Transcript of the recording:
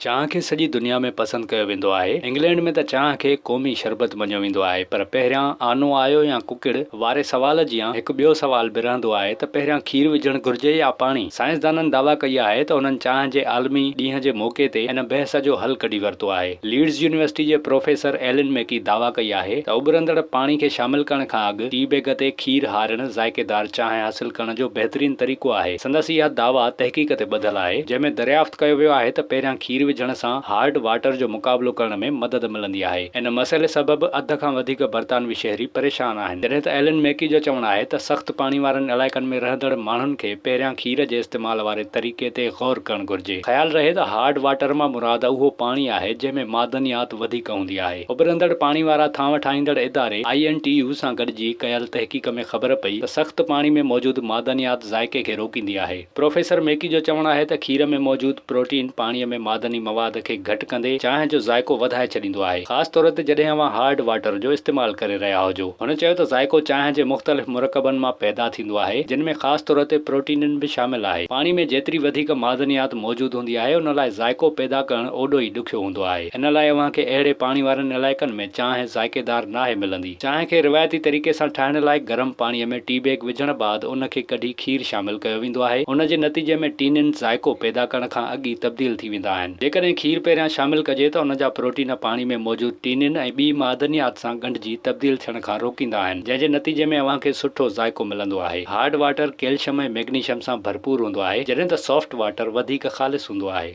چانهه کي سڄي دنيا ۾ پسند ڪيو ويندو آهي. انگلينڊ ۾ ته چانهه کي قومي شربت مڃيو ويندو آهي پر پهريان آنو آيو يا ڪڪڙ واري سوال جيان هڪ ٻيو سوال به رهندو آهي ته پهريان کير وجهڻ گهرجي يا پاڻي؟ سائنسدانن دعويٰ ڪئي آهي ته انهن چانهه جي عالمي ڏينهن جي موقعي تي ان بحث جو حل ڪڍي ورتو آهي. ليڊز يونيورسٽي جي پروفيسر ايلن ميڪي دعويٰ ڪئي آهي ته اٻرندڙ پاڻي کي شامل ڪرڻ کان اڳ ٽي بيگ تي کير هارڻ ذائقيدار چانهه حاصل ڪرڻ جو بهترين طريقو آهي. سندس اها دعويٰ تحقيق تي ٻڌل آهي، جنهن ۾ دريافت ڪيو ويو آهي ته پهريان کير وجهڻ سان هارڊ واٽر جو مقابلو ڪرڻ ۾ مدد ملندي آهي. ان مسئلي سبب اڌ کان وڌيڪ برطانوي شهري پريشان آهن. جڏهن ته ايلن ميڪي جو چوڻ آهي ته سخت پاڻي وارن علائقن ۾ رهندڙ ماڻهن کي پهريان کير جي استعمال واري طريقي تي غور ڪرڻ گهرجي. خيال رهي ته هارڊ واٽر مان مراد اهو پاڻي آهي، جنهن ۾ معدنيات وڌيڪ هوندي آهي. اڀرندڙ پاڻي وارا ٿانو ٺاهيندڙ اداري آء اين ٽي يو سان گڏجي ڪيل تحقيق ۾ خبر پئي ته سخت پاڻي ۾ موجود معدنيات ذائقي کي روڪيندي آهي. پروفيسر ميڪي جو چوڻ آهي ته کير ۾ موجود پروٽين پاڻي ۾ معدني مواد کي گهٽ ڪندي چانهه جو ذائقو وڌائي ڇڏيندو آهي خاص طور تي جڏهن اوهان هارڊ واٽر جو استعمال ڪري رهيا هجو. هن چيو ته ذائقو چانهه جي مختلف مرڪبن مان پيدا ٿيندو آهي جن ۾ خاص طور تي پروٽينن به شامل آهي. پاڻي ۾ جيتري وڌيڪ معدنيات موجود هوندي آهي ان لاء ذائقو پيدا ڪرڻ اوڏو ئي ڏکيو هوندو آهي. ان لاء اوهان کي اهڙي پاڻي وارن علائقن ۾ چانهه ذائقيدار ناهي ملندي. چانهه کي روايتي طريقي سان ٺاهڻ لاء گرم پاڻيء ۾ ٽي بيگ وجهڻ بعد ان کي ڪڍي کير شامل ڪيو ويندو آهي. ان جي نتيجي ۾ ٽينين ذائقو پيدا ڪرڻ کان اڳ ئي تبديل ٿي ويندا آهن. جيڪڏهن کير پهريان شامل ڪجي ته ان جا پروٽين پاڻي ۾ موجود ٽينين ۽ ٻي معدنيات سان ڳنڍجي تبديل ٿيڻ کان روڪيندا آهن، جنهن جي نتيجي ۾ اوهان کي سٺو ذائقو ملندو آهي. هارڊ واٽر ڪيلشم ۽ ميگنيشم سان ڀرپور هوندو آهي، جڏهن ته سافٽ واٽر وڌيڪ خالص هوندو آهي. هوندو آهي.